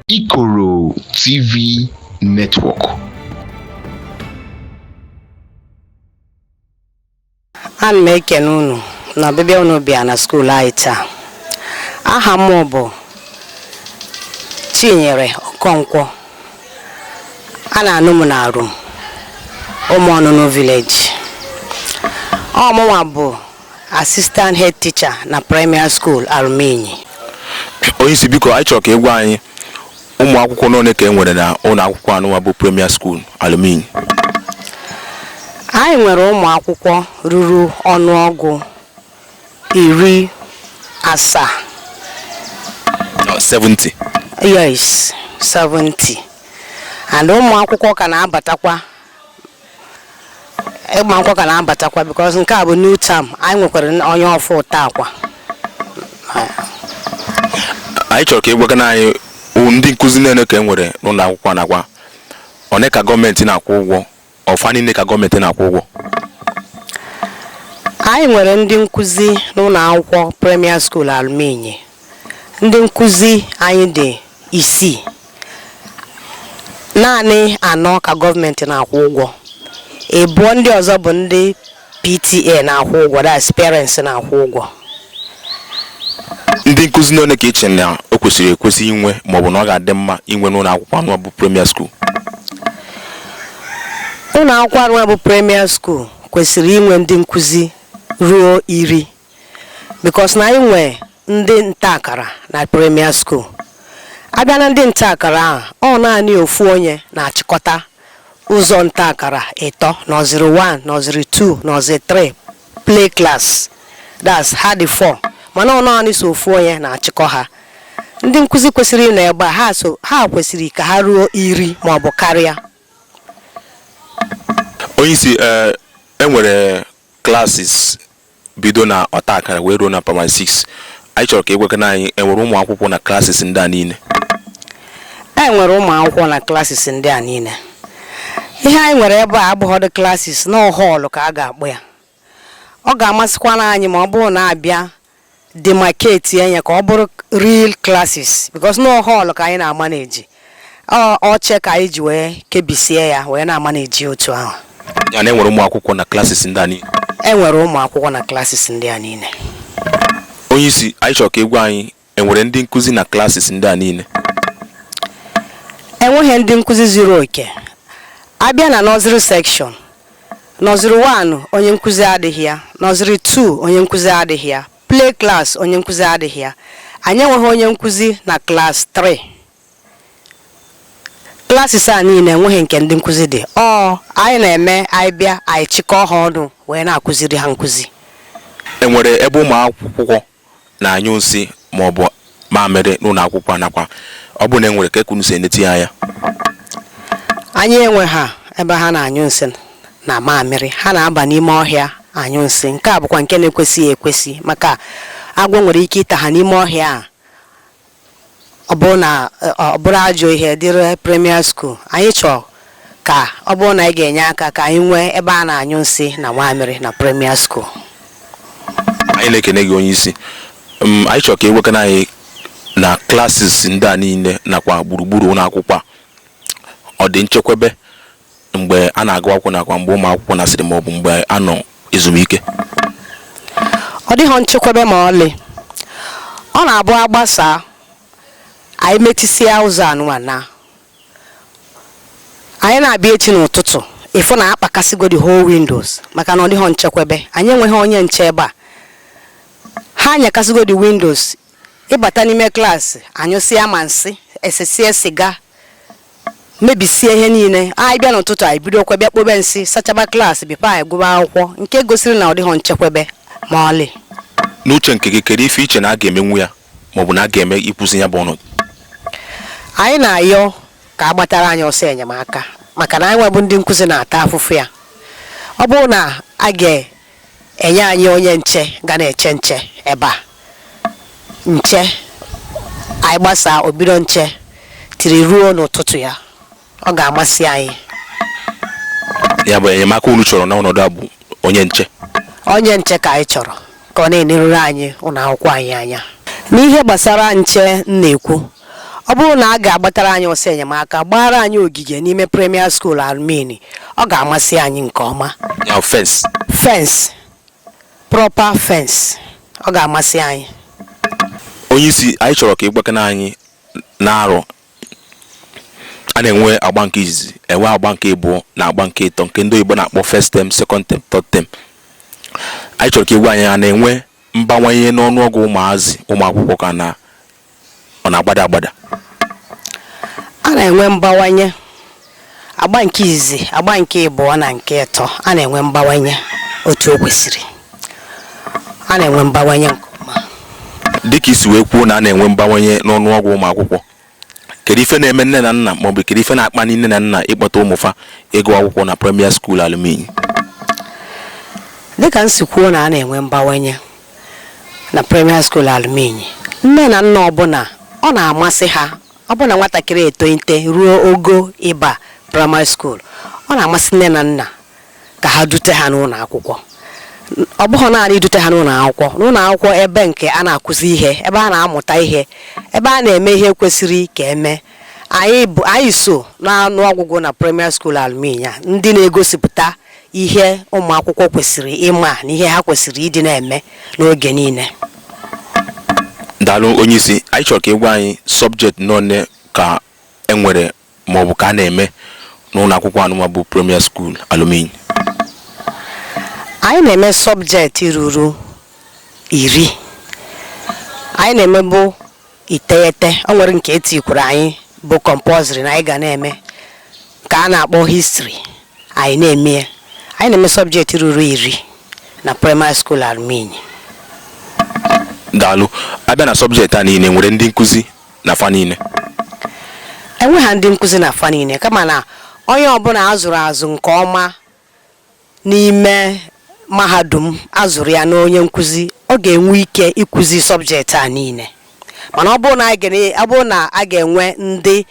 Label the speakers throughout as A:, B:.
A: Ikoro TV
B: Network. ana m ekene unu na ọbịbịa unu bịa na skuul anyị taa aha m bụ chinyere okonkwo a na-anụ m na Alum ụmụ ọnụnụ village ọ mụnwa bụ Assistant head teacher na primary school Alum Inyi. Onye
C: isi biko anyị chọrọ ka ị gwa anyị ụmụ akwụkwọ n'one ka e nwere na ụlọ akwụkwọ anụnwa bụ premier school Alum Inyi. Anyị
B: nwere ụmụ akwụkwọ ruru ọnụọgụ iri asaa. 70.
C: Yes, 70.
B: And ụmụ akwụkwọ ka na-abatakwa ụmụ akwụkwọ ka na-abatakwa because nke a bụ new term anyị nwekwara onye ọfụụ taakwa
C: anyị chọrọ ka ị gwagana anyị o- ndị nkụzi n'one ka e nwere n'ụlọ akwụkwọ nakwa one ka gọọmenti na-akwụ ụgwọ ọ fa niile ka gọọmenti na-akwụ
B: ụgwọ anyị nwere ndị nkụzi n'ụlọ akwụkwọ premier school Alum Inyi Ndị nkụzi anyị dị isii, naanị anọ ka gọọmenti na-akwụ ụgwọ. Ịbụọ ndị ọzọ bụ ndị PTA na-akwụ ụgwọ, that's parents na-akwụ ụgwọ.
C: Ndị nkụzi n'one ka i che na o kwesịrị ekwesị inwe maọbụ na ọ ga-adị mma inwe n'ụlọ akwụkwọ anụ bụ premier
B: school? Ụlọ akwụkwọ anụ bụ premier school kwesịrị inwe ndị nkụzi ruo iri. because na anyị nwe ndị nta akara na premier school a bịa na ndị nta akara ahụ ọ naanị ofu onye na-achịkọta ụzọ nta akara ịtọ nursery 1 nursery 2 nursery 3 play class that's ha dị 4 mana ọ naanị so ofu onye na-achịkọ ha ndị nkụzi kwesịrị ịnọ ebe a ha so ha kwesịrị ka ha ruo iri ma ọ bụ karịa
C: onye isi eh, e nwere classes bido na ọta akara wee ruo na primary 6 anyị chọrọ ka ị gwakana anyị e nwere ụmụ akwụkwọ na classes ndị a niile
B: e nwere ụmụ akwụkwọ na classes ndị a niile ihe anyị nwere ebe a abụghọdụ classes na ọ hall ka a ga-akpọ ya ọ ga-amasịkwana anyị ma ọ bụrụ na a bịa demarcate ya ka ọ bụrụ real classes because na ọ hall ka anyị na-amanage Ọ- oche ka anyị ji wee kebisie ya wee na-amanage otu ahụ ya na e nwere ụmụ
C: akwụkwọ na classes ndị a niile e nwere ụmụ
B: akwụkwọ na classes ndị a niile
C: onye isi anyị chọrọ ka ị gwa anyị e nwere ndị nkụzi na classes ndị a niile
B: e nweghị ndị nkụzi zuru oke a bịa na nursery section Nursery one, onye nkuzi adịghị ya. Nursery two, onye nkuzi adịghị ya. Play class, onye nkuzi adịghị ya. Anyị enweghị onye nkuzi na class three. Classes a niile enweghị nke ndị nkuzi dị. Ọ anyị na-eme anyị bịa anyị chịkọọ ha ọnụ wee na-akụziri ha nkuzi. Enwere
C: ebe ụmụ akwụkwọ na-anyụ nsị maọbụ mamịrị n'ụlọ akwụkwọ a nakwa ọ bụrụ na e nwere kee ka unu si eneti ya anya
B: anyị enweha ebe ha na-anyụ nsị na mamịrị ha na-aba n'ime ọhịa anyụ nsị nke a bụkwa nke na-ekwesịghị ekwesị maka agwọ nwere ike ịta ha n'ime ọhịa a Ọ bụrụ na ọ bụrụ ajọ ihe dịrị Premier School, anyị chọrọ ka ọ bụrụ na anyị ga-enye aka ka anyị nwee ebe a na-anyụ nsị na nwamịrị na Premier School.
C: Anyị na-ekene gị onye isi. M, anyị chọrọ ka ị gwakena anyị na classes ndị a niile nakwa gburugburu ụlọ akwụkwọ a. Ọ dị nchekwebe mgbe a na-agụ akwụkwọ nakwa mgbe ụmụ akwụkwọ nasịrị ma ọ bụ mgbe a nọ
B: ezumike ọ dịghị nchekwebe ma ọlị ọ na-abụ a gbasaa anyị metisịa ụzọ anyịnwa naa anyị na-abịa echi n'ụtụtụ ịfụ na a kpakasịgo the whole windows maka na ọ dịghị nchekwebe anyị enweghị onye nche ebe a ha nyakasịgo the windows ịbata n'ime class anyụsịa ma nsị esesie siga mebisie ihe niile anyị bịa n'ụtụtụ anyị bidokwa bịa kpobe nsị sachaba class before anyị gụba akwụkwọ nke gosiri na ọ dịghị nchekwebe ma ọlị n'uche nke gị
C: kedu ife i che na a ga-emenwu ya maọbụ na a ga-eme ịkwụsị ya bụ
B: ọnọdụ anyị na-ayọ ka a gbatara anyị ọsọ enyemaka maka na anyịnwa bụ ndị nkụzi na-ata afụfụ ya ọ bụrụ na a ga enye anyị onye nche ga na-eche nche ebe a nche anyị gbasaa o bido nche tiri ruo n'ụtụtụ ya ọ ga-amasị anyị
C: ya bụ enyemaka unu chọrọ n'ọnọdụ a bụ onye nche onye nche
B: ka anyị chọrọ ka ọ na-eneruru anyị ụlọ akwụkwọ anyị anya n'ihe gbasara nche m na-ekwu Ọ bụrụ na a ga-agbatara anyị ọsọ enyemaka, gbaara anyị ogige n'ime Premier School Almini, ọ ga-amasị anyị nke ọma. Ya fence.
C: Fence.
B: Proper fence. Ọ ga-amasị anyị. Onye
C: isi, anyị chọrọ ka ị gwakena anyị n'arọ a na-enwe agba nke izizi, enwe agba nke ịbụọ na agba nke ịtọ nke ndị oyibo na-akpọ first term, second term, third term. Anyị chọrọ ka ị gwa anyị a na-enwe mbawanye n'ọnụọgụ ụmụazị ụmụ akwụkwọ ka na ọ na-agbada
B: agbada a na-enwe mgbawanye agba nke izizi agba nke ịbụọ na nke ịtọ a na-enwe mgbawanye otu o kwesịrị a na-enwe mgbawanye nke ọma dịka i
C: si wee kwuo na a na-enwe mgbawanye n'ọnụọgụ ụmụ akwụkwọ kedu ife na-eme nne na nna maọbụ kedu ife na-akpali nne na nna ịkpọta ụmụfa ịgụ akwụkwọ na Premier School Alum Inyi dịka
B: m si kwuo na a na-enwe mgbawanye na Premier School Alum Inyi. Nne na nna ọbụla ọ na-amasị ha ọ bụ na nwatakịrị etoite ruo ogo ịba Primary School, ọ na-amasị nne na nna ka ha dute ha n'ụlọ akwụkwọ. Ọ bụghị naanị idute ha n'ụlọ akwụkwọ, n'ụlọ akwụkwọ ebe nke a na-akụzi ihe, ebe a na-amụta ihe, ebe a na-eme ihe kwesịrị ka eme. Anyị so n'ọnụ ọgụgụ na Premier School Alum Inyi ndị na-egosipụta ihe ụmụakwụkwọ kwesịrị ịma na ihe ha kwesịrị ịdị na-eme n'oge niile daalụ
C: onye isi anyị chọrọ ka ị gwa anyị subject nọne ka e nwere ma ọ bụ ka a na-eme n'ụlọ akwụkwọ anụma bụ premier school alum inyi anyị
B: na-eme sọbjekti ruru iri anyị na-emebu iteghete o nwere nke e tikwuru anyị bụ compulsory na anyị ga na-eme nke a na-akpọ history anyị na-eme ya anyị na-eme sọbjekti ruru iri na primary school alum inyi
C: daalụ a bịa na sọbjekti a niile nwere ndị nkụzi na fa
B: niile enweghị ndị nkụzi na fa niile kama na onye ọbụla a zụrụ azụ nke ọma n'ime mahadum a zụrụ ya n'onye nkuzi ọ ga-enwe ike ikuzi subject a niile mana ọ bụrụ na a ga-enwe ndị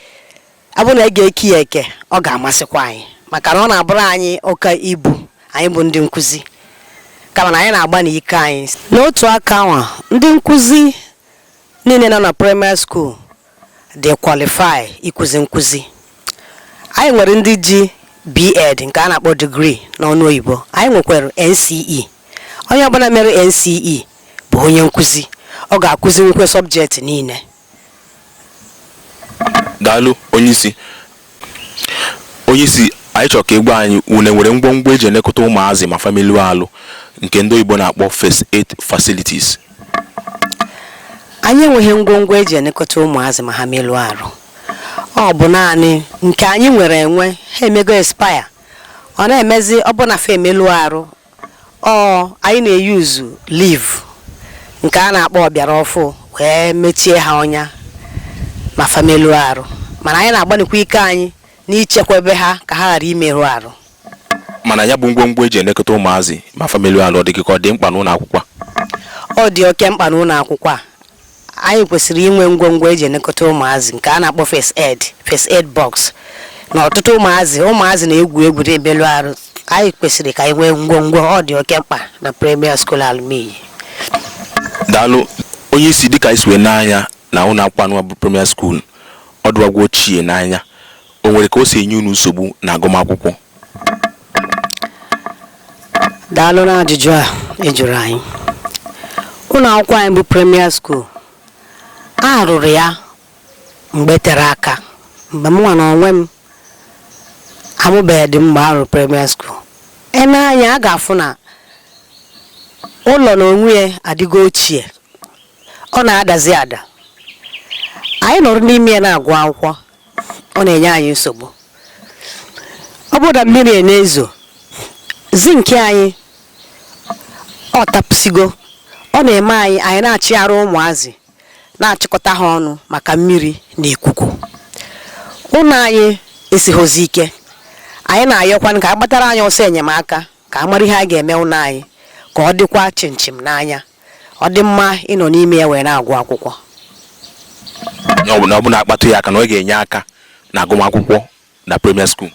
B: ọ bụrụ na a ga-eke ya eke ọ ga-amasịkwa anyị maka na ọ na-abụrụ anyị oke ibu anyị bụ ndị nkuzi kama na anyị na-agbani ike anyị n'otu aka ahụ ndị nkuzi niile nọ na primary school dị qualify ịkụzi nkụzi. Anyị nwere ndị ji BEd nke a na-akpọ degree n'ọnụ oyibo, anyị nwekwara NCE. Onye ọbụla mere NCE bụ onye nkụzi, ọ ga-akụzinwukwe sọbjekti niile.
C: Daalụ, Onyeisi. Onye isi anyị chọrọ ka ị gwa anyị unu enwere ngwongwo eji elekọta ụmụazị ma fa melụọ alụ nke ndị oyibo na-akpọ first aid facilities.
B: Anyị enweghị ngwongwo eji elekọta ụmụazị ma ha melụọ arụ. Ọ bụ naanị nke anyị nwere enwe ha emego expire. Ọ na-emezi ọ bụ na fa emelụọ arụ ọ anyị na-eyuzu leaf nke a na-akpọ ọbịara ọfụụ wee mechie ha ọnya ma fa meluo arụ mana anyị na-agbanikwa ike anyị n'ichekwebe ha ka ha ghara imerụ arụ mana
C: ya bụ ngwongwo eji elekọta ụmụazị ma fa meluo arụ ọ dị gị ka ọ dị mkpa n'ụlọ akwụkwọ a? ọ dị
B: oke mkpa n'ụlọ akwụkwọ a anyị kwesịrị inwe ngwongwo eji elekọta ụmụazị nke a na-akpọ first aid first aid box na ọtụtụ ụmụazị ụmụazị na-egwu egwu na-emelụ arụ anyị kwesịrị ka anyị nwee ngwongwo ọ dị oke mkpa na premier school Alum
C: Inyi daalụ onye isi dịka anyị si wee nee anya na ụlọ akwụkwọ anụwa bụ premier school ọ dụwagwo ochie n'anya o nwere ka o si enye unu nsogbu na agụmakwụkwọ
B: daalụ na ajụjụ a ị jụrụ anyị ụlọ akwụkwọ anyị bụ premier school a rụrụ ya mgbe tere aka mgbe mụnwa na onwe m amụbeghị dị mgbe a rụrụ premier school e nee anya a ga-afụ na ụlọ na onwe ya adịgo ochie ọ na-adazi ada anyị nọrọ n'ime ya na-agụ akwụkwọ ọ na-enye anyị nsogbu ọ bụrụ na mmiri a na-ezo zinki anyị ọ tapụsigo ọ na-eme anyị anyị na-achịgharị ụmụazị na-achịkọta ha ọnụ maka mmiri na ikuku ụlọ anyị esighozi ike anyị na-ayọkwanụ ka a gbatara anyị ọsọ enyemaka ka a mara ihe a ga-eme ụlọ anyị ka ọ dịkwa chịmchịm n'anya ọ dị mma ịnọ n'ime ya wee na-agụ akwụkwọ
C: Ọ bụ na akpatụ ya aka na ọ ga-enye aka na agụmakwụkwọ na premier school.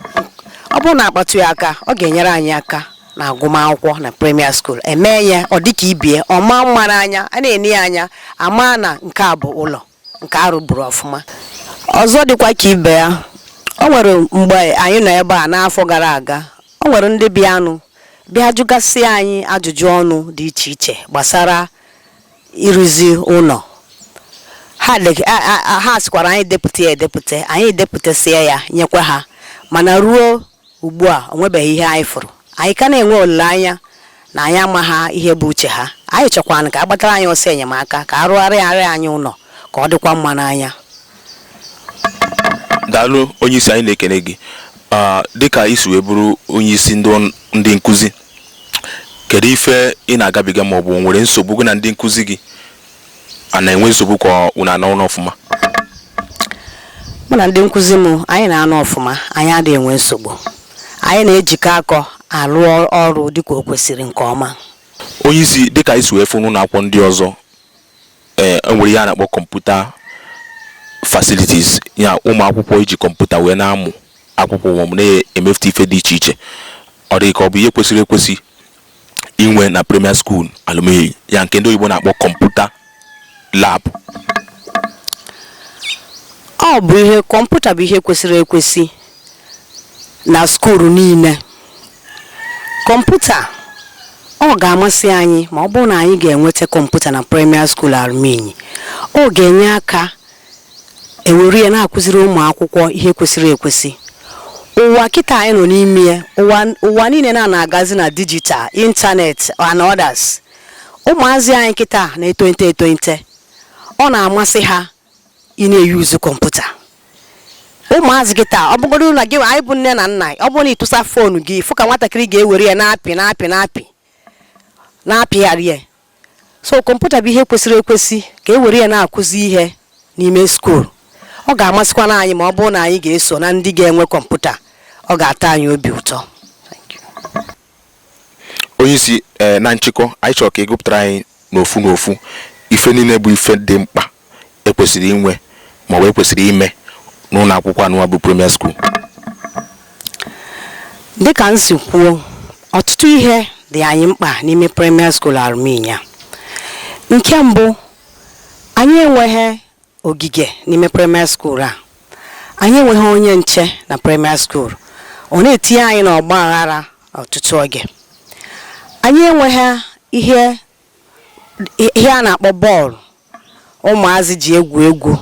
C: ọ bụrụ
B: na akpatụ ya aka ọ ga-enyere anyị aka na agụmakwụkwọ na premier school emee ya ọ dịka ibie ọ maa mma n'anya a na-ene ya anya ama na nke a bụ ụlọ nke a rụburu ọfụma ọzọ dịkwa ka ibe ya o nwere mgbe anyị nọ ebe a n'afọ gara aga o nwere ndị bịanụ bịa jụgasị anyị ajụjụ ọnụ dị iche iche gbasara ịrụzi ụlọ ha deg- a- a- a- ha sịkwara anyị depụta ya edepụta anyị depụtasịa ya nyekwa ha mana ruo Ugbu a, o nwebeghị ihe anyị fụrụ. Anyị ka na-enwe olileanya na anyị amaghị ihe bụ uche ha. Anyị chọkwaranụ ka a gbatara anyị ọsọ enyemaka, ka a rụgharịara anyị ụlọ, ka ọ dịkwa mma n'anya.
C: Daalụ onyeisi anyị na-ekene gị. Ah, dịka i si wee bụrụ onyeisi ndị ọn- ndị nkụzi, kedu ife ị na-agabiga maọbụ o nwere nsogbu gị na ndị nkụzi gị a na-enwe nsogbu ka unu a na-anọ
B: ọfụma mụ na ndị nkụzi m anyị na-anọ ọfụma anyị adịghị enwe nsogbu anyị na-ejikọ aka alụ ọrụ dịka o kwesịrị nke ọma onye isi
C: dịka anyị si wee fụ n'ụlọ akwụkwọ ndị ọzọ ee enwere ihe a na-akpọ computer facilities ya ụmụ akwụkwọ iji kọmputa wee na-amụ akwụkwọ ma ọ bụ na-emefute ife dị iche iche ọ dị ka ọ bụ ihe kwesịrị ekwesị inwe na premier school Alum Inyi a nke ndị oyibo na-akpọ kọmputa
B: lab ọ bụ ihe kọmputa bụ ihe kwesịrị ekwesị na skuulu niile kọmputa ọ ga-amasị anyị ma ọ bụrụ na anyị ga-enweta kọmputa na premier school Alum Inyi ọ ga-enye aka e were ya na-akụziri ụmụ akwụkwọ ihe kwesịrị ekwesị ụwa kịta anyị nọ n'ime ya ụwa ụwa niile na na-agazi na digital internet and others ụmụazị anyị kịta na-etonite etonite ọ na-amasị ha ị na-eyuzu kọmputa ụmụazị kịta ọ bụgodu na gị anyị bụ nne na nna ọ bụrụ na ị tụsa foonu gị fụ ka nwatakịrị ga-ewere ya na-apị na-apị na-apị na-apịgharị ya so kọmputa bụ ihe kwesịrị ekwesị ka e were ya na-akụzi ihe n'ime skuul ọ ga-amasịkwana anyị ma ọ bụrụ na anyị ga-eso na ndị ga-enwe kọmputa ọ ga-atọ anyị obi ụtọ
C: onye isi eh, na nchịkọ anyị chọrọ ka ị gụpụtara anyị n'ofu n'ofu ife niile bụ ife dị mkpa e kwesịrị inwe ma ọ bụ e kwesịrị ime n'ụlọ akwụkwọ anụwa bụ premier
B: school dịka m si kwuo ọtụtụ ihe dị anyị mkpa n'ime premier school Alum Inyi a nke mbụ anyị enweghị ogige n'ime premier school a anyị enweghị onye nche na premier school ọ na-etinye anyị n'ọgba aghara ọtụtụ oge anyị enweghị ihe ihe a na-akpọ bọọlụ ụmụazị ji egwu egwu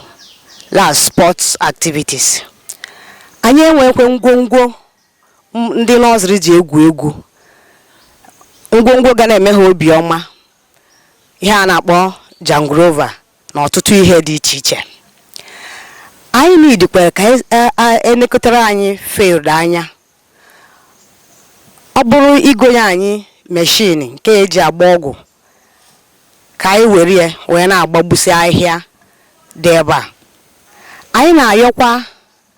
B: la sports activities anyị enwekwe ngwongwo ndị nursery ji egwu egwu ngwongwo ga na-eme ha obiọma ihe a na-akpọ jangrova na ọtụtụ ihe dị iche iche anyị nidikwere ka e lekọtara anyị field anya Ọ bụrụ igonye anyị meshin nke e ji agba ọgwụ ka anyị were ya wee na-agbagbusi ahịhịa dị ebe a. Anyị na-ayọkwa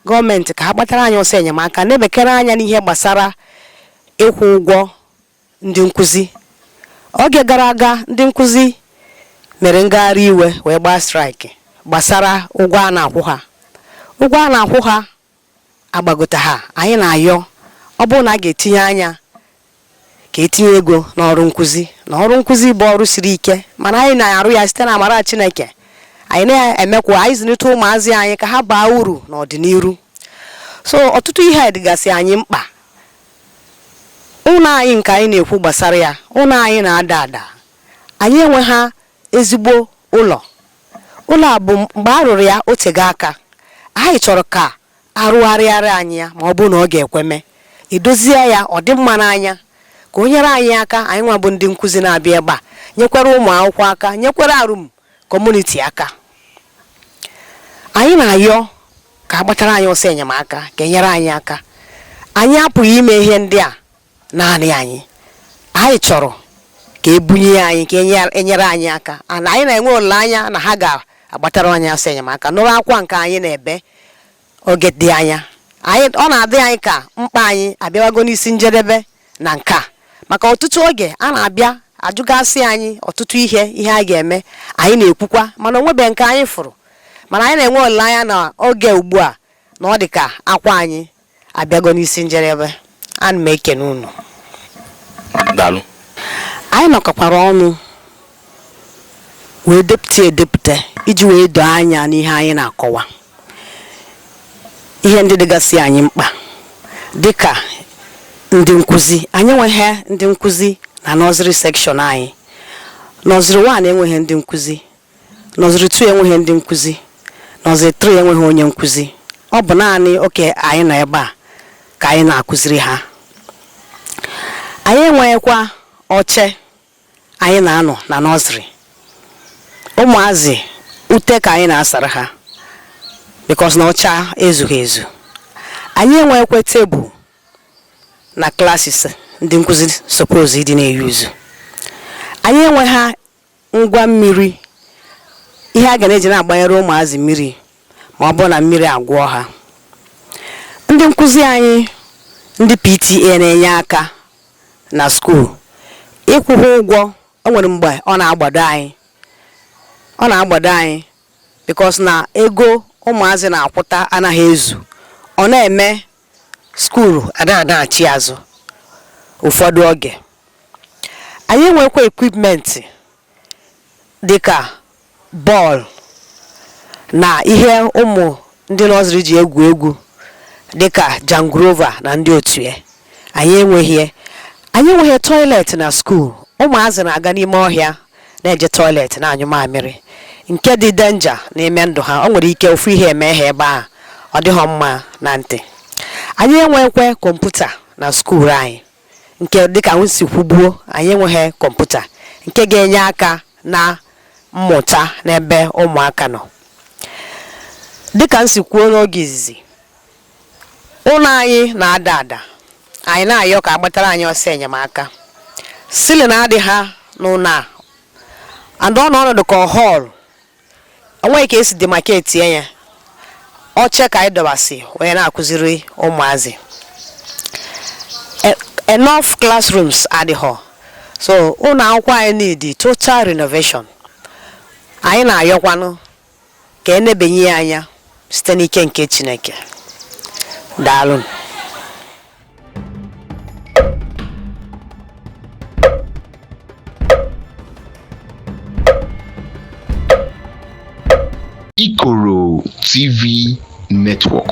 B: gọọmenti ka ha gbatara anyị ọsọ enyemaka nebekere anya n'ihe gbasara ịkwụ ụgwọ ndị nkụzi. Oge gara aga, ndị nkụzi mere ngagharị iwe wee gbaa strike gbasara ụgwọ a na-akwụ ha. Ụgwọ a na-akwụ ha agbagotaha, anyị na-ayọ ọ bụrụ na a ga-etinye anya ka e tinye ego n'ọrụ nkụzi na ọrụ nkụzi bụ ọrụ siri ike mana anyị na-arụ ya site na amara Chineke anyị na-eme ka anyị zụlite ụmụazị anyị ka ha baa uru n'ọdịnihu so ọtụtụ ihe dịgasị anyị mkpa ụlọ anyị nke anyị na-ekwu gbasara ya ụlọ anyị na-ada ada anyị enweha ezigbo ụlọ. Ụlọ a bụ mgbe a rụrụ ya o tego aka. Anyị chọrọ ka a rụgharịara anyị ya ma ọ bụ na ọ ga-ekwe mee. E dozie ya ọ dị mma n'anya, ka o nyere anyị aka anyịnwa bụ ndị nkụzi na-abịa ebe a, nyekwara ụmụ akwụkwọ aka, nyekwara Arum kọmuniti aka. Anyị na-ayọ ka a gbatara anyị ọsọ enyemaka, ka e nyere anyị aka. Anyị apụghị ime ihe ndị a naanị anyị anyị chọrọ ka e bunye ya anyị ka e nyere anyị aka anyị na-enwe olileanya na ha ga-agbatara anyị ọsọ enyemaka nụrụ akwa nke anyị na-ebe oge dị anya ọ na-adị anyị ka mkpa anyị abịawago n'isi njedebe na nke a maka ọtụtụ oge a na-abịa ajụgasị anyị ọtụtụ ihe ihe a ga-eme anyị na-ekwukwa mana o nwebe nke anyị fụrụ mana anyị na-enwe olileanya na oge ugbu a na ọ dị ka akwa anyị abịago n'isi njedebe ana m ekene unu
C: daalụ
B: anyị nọkọkwara ọnụ wee depụta edepụta iji wee doo anya n'ihe anyị na-akọwa ihe ndị dịgasị anyị mkpa dịka ndị nkụzi anyị enweghị ndị nkụzi na nọziri sekshọn anyị nọziri wan enweghị ndị nkụzi Nọziri 2 enweghị ndị nkuzi. Nọziri 3 enweghị onye nkuzi. Ọ bụ naanị oke anyị nọ ebe a ka anyị na-akụziri ha. Anyị enweghịkwa oche anyị na-anọ na nọziri. Ụmụazị ute ka anyị na-asara ha bikos na oche ezughị ezu. Anyị enweghịkwa tebụl na klasis ndị nkuzi suppose ịdị na-eyuzu. Anyị enweghị ngwa mmiri ihe a ga na-eji na-agbanyere ụmụazị mmiri ma ọ bụ na mmiri agụọ ha ndị nkụzi anyị ndị PTA na-enye aka na skuul ịkwụ ha ụgwọ o nwere mgbe ọ na-agbado anyị ọ na-agbado anyị bikos na ego ụmụazị na-akwụta anaghị ezu ọ na-eme skuulu a na-adaghachi azụ ụfọdụ oge anyị enwekwa ekwipmentị dịka bọọlụ na ihe ụmụ ndị nọziri ji egwu egwu dịka jangrova na ndị otu ya anyị enweghị ya anyị enweghị toilet na skuul ụmụazị na-aga n'ime ọhịa na-eje toilet na-anyụ mamịrị nke dị denja n'ime ndụ ha o nwere ike ofu ihe eme ha ebe ahụ ọ dịghọ mma na ntị anyị enweghịkwa kọmputa na skuul anyị nke dịka m si kwubuo anyị enweghị kọmputa nke ga-enye aka na mmụta n'ebe ụmụaka nọ dịka m si kwuo n'oge izizi ụlọ anyị na-ada ada anyị na-ayọ ka a gbatara anyị ọsọ enyemaka ceiling adịha n'ụlọ a and ọ nọ ọnọdụ ka hall onweghị ka e si demarcate ya oche ka anyị dọbasị wee na-akụziri ụmụazị enough classrooms adịghọ so ụlọ akwụkwọ anyị need total renovation anyị na-ayọkwanụ ka e nebenye ya anya site n'ike nke Chineke. Daalụ.
A: Ikoro TV Network.